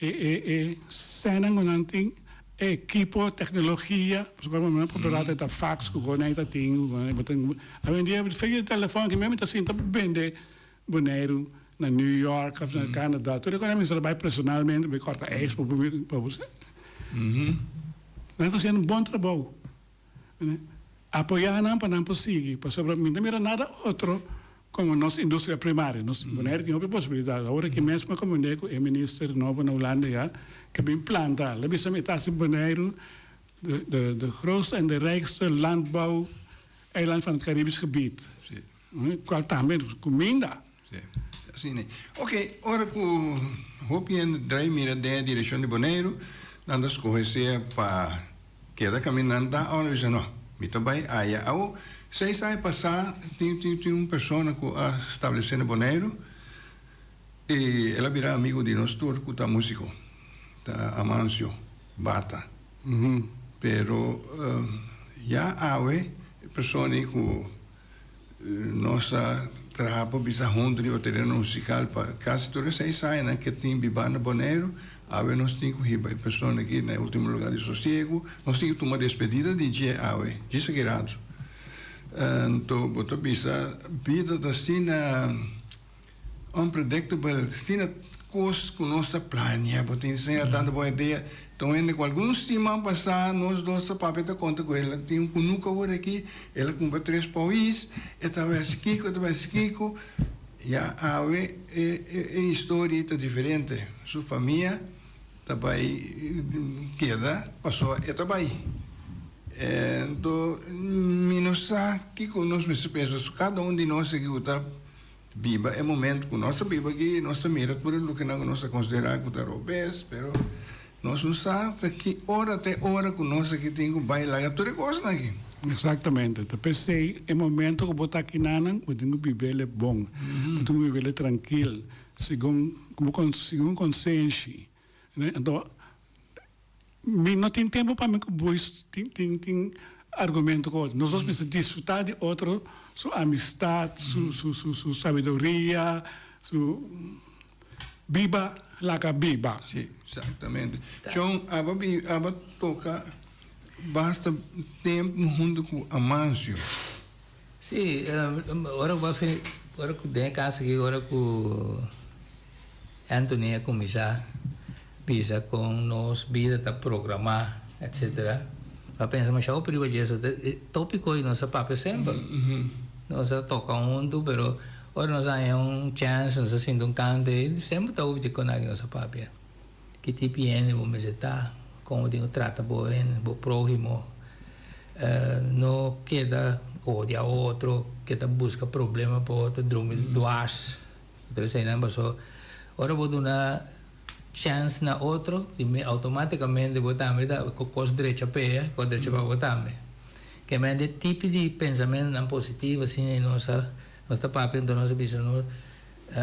E e e scenanan cu nan tin e equipo tecnologia pasobra cu awe mi por ta rata ta fax cu cosa nai ta tin cu cosa nai bo tin awendia bo fik e telefon aki mi ta sinta pa bende Boneiru na New York of na Canada tur e cosa nai mi mester bai personalmente bai corta eis pa bo mi pa bo nan ta haciendo un bon trabou. Apoyá nan pa nan por sigui, pasobra mi no ta mira nada otro como nos industria primaria. Nos Bonaire tin hopi posibilidad. Awor aki mes mi a comprende cu e minister nobo na Hulanda ya ke bin planta al. El a bisa mi e ta hasi Boneiru de grootste en de rijkste landbouw eiland van het Caribisch gebied. Cual tambe nos cuminda. Si, asina e. Ok, ora cu hopi hende dra y mira den e direccion di Boneiru, nan ta scoge sea pa keda caminanta o nan bisa, No, mi ta bay aya. Awo, seis aña pasa, tin, tin, tin un persona cu a stablece na Boneiru y el a bira amigo di nos tur cu ta musico. Ta Amancio Bata. Pero, ya awe, e persona ei cu Nos ta traha pa bisa huntu riba tereno musikal pa kasi tur e seis añanan ke tin bibanda Boneiru. Awe nos tin ku hiba e persona aki na e ultimo luga di sosiegu. Nos tin ku tuma despedida di dje awe, dje sagrado. Anto bo ta bisa bida ta asina. Un predicto bo el sina cos cu nos ta planea bo ta enseña tando bo idea ta un hende cu algun siman pasa nos dos ta papia ta conta cu el a tin un cunuc awor aki el a cumpra tres paois e ta haber haci kico e ta haber haci kico ya awe e e historia y ta diferente su famia ta bay keda pasobra e ta bay en to mi no sa kico nos mester pensa so cada un di nos aki cu ta Biba e momento cu nos ta biba aki, nos ta mira tur e lukinan cu nos ta considera cu ta robes, pero nos no sa ta ki ora ta e ora cu nos aki tin cu bay laga tur e cosnan aki. Exactamente, ta pesey e momento cu bo ta aki nanan, bo tin cu bibele bon, bo tin cu bibele trankil, segun, segun e conseenshi. Anto mi no tin tempo pa mi cu boes tin tin tin argumento cu otro. Nos dos mester disfruta di otro su amistad, su su su su sabiduria, su biba laga biba. Si, exactamente. Chon, aba bi, aba toca basta tempo hunto cu Amancio. Sí, ora ku así, ora ku den e kas aki, ora ku Anthony a kuminsá bisa kon nos bida ta programá, etsetera, a pensa mashá hopi riba dje. Topi kos nos a papia semper. Nos a toka huntu, pero ora nos a haña un chèns, nos a sinti un kante, semper ta hopi dje konanke nos a papia. Ki tipi hende bo mester ta? Kon bo tin ku trata bo hende, bo próhimo? No keda odia otro, keda buska problema pa otro, drumi duars, otro eseinan. Pasobra ora bo duna chèns na otro, primero outomátikamente bo tambe ta ku kos drecha p'e, e kos drecha pa bo tambe. Kèmente e tipi di pensamentunan positivo asina nos ta papia, nos ta bisa, nos.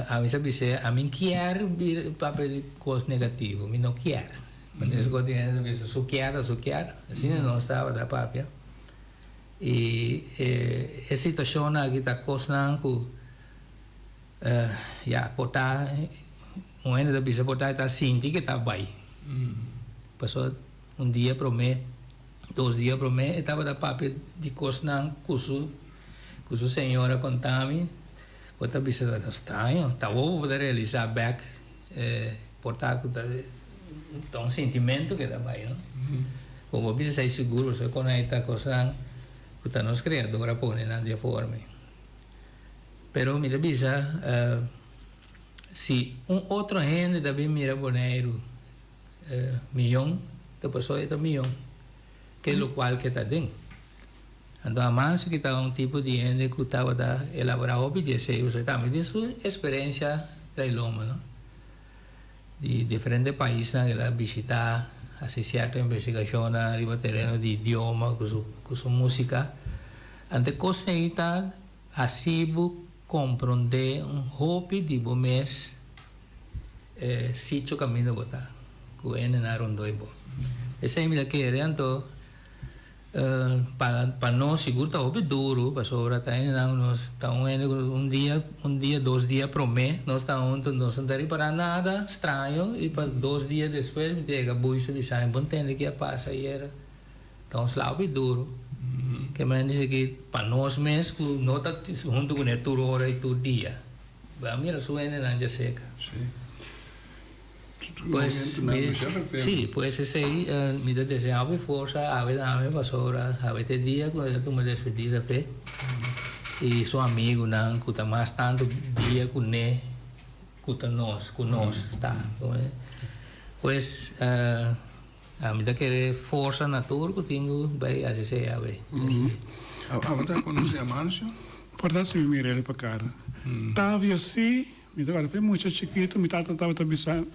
Ami sa bis'é, Ami kier bira e papia di kos negativo, mi no kier. Pasobra esun kos di hende ta bisa, su kier ta su kier. Asina nos tabata papia. I e situashonnan aki ta kosnan ku, ya, por ta, un hende ta bisa por ta, e ta sinti ku e ta bai. Pasó un dia promé, dos dia promé, e tabata papia di kosnan ku su, ku su señor a konta mi. Bo ta bisa ta straño, ta awor bo ta realisa bek por ta cu ta un sentimento que ta bay, no? Bo por bisa esey sigur pasobra con ey ta cosnan cu ta nos Creador a pone nan den formi. Pero mi ta bisa si un otro hende ta bin mira Boneiru miyon ta pasobra ey ta miyon ke locual ke ta den. Anto Amancio ki taba un tipo di hende ku tabata elaborá hopi deseos, e tambe tin su eksperensia tra e lomba, no? Di diferente paisnan el a bishitá, hasi sierto investigashonnan riba tereno di idioma ku su ku su músika. Ante kosnan ei ta hasi bo komprondé un hopi di bo mes e sicho kaminda bo ta, ku hendenan rondoi bo. Esei mi ta kere, anto. Pa nos sigur ta hopi duru pasobra ta hende nan nos ta un hende cu un dia un dia dos dia prome nos ta hunto nos no ta ripara nada straño y pa dos dia despues mi ta yega buy ta bisa mi bon tende ki a pasa ayera ta un sla hopi duru kimen dici ki pa nos mes cu no ta hunto cune tur ora y tur dia bo a mira su hende nan dja seka. Sí, pues esey mi ta desea hopi forsa Abe ta ami pasobra Abe ta e dia ku e ta tuma despedida p'e i su amigunan ku ta mas tantu dia ku ne ku ta nos ku nos ta kohe. Pues ami ta kere forsa na tur ku tin ku bai hasi esey Abe. Abe ta konosé Amancio? Por ta hasi mi mira el pa kara. Tavio sí. Mi tabata fe mucha chikitu, mi tata tabata bisa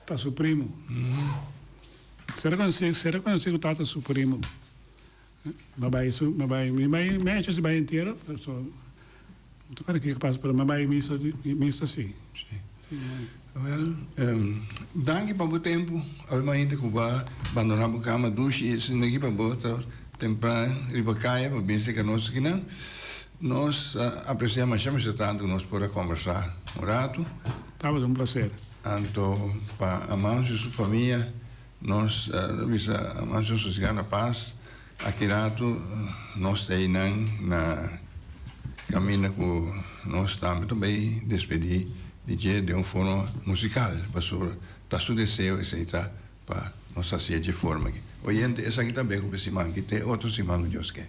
ta su primu. Ser konosí, ser rekonosí ku tata su primu. Mi bai, mi bai, mi bai mecha si bai entierro, so, mi ta kuerda ke ta pasa pero mi a bai misa, misa si. Wèl, danki pa bo tempu. Awe mas hende ku ba bandoná bo kama dushi i esei no e kiba bo ta tempran riba kaya pa bini seká nos akinan. Nos ta aprecia masha masha tanto cu nos por a combersa un rato. Tabata un placer. Anto pa Amancio y su famia nos ta bisa Amancio sosiga na paz. Aki rato nos ta ey nan na caminda cu nos tambe ta bay despedi di dje den un forma musical pasobra ta su deseo esey ta pa nos haci'e dje forma aki. Oyente esaki ta beco pe siman aki te otro siman lo Dios ke.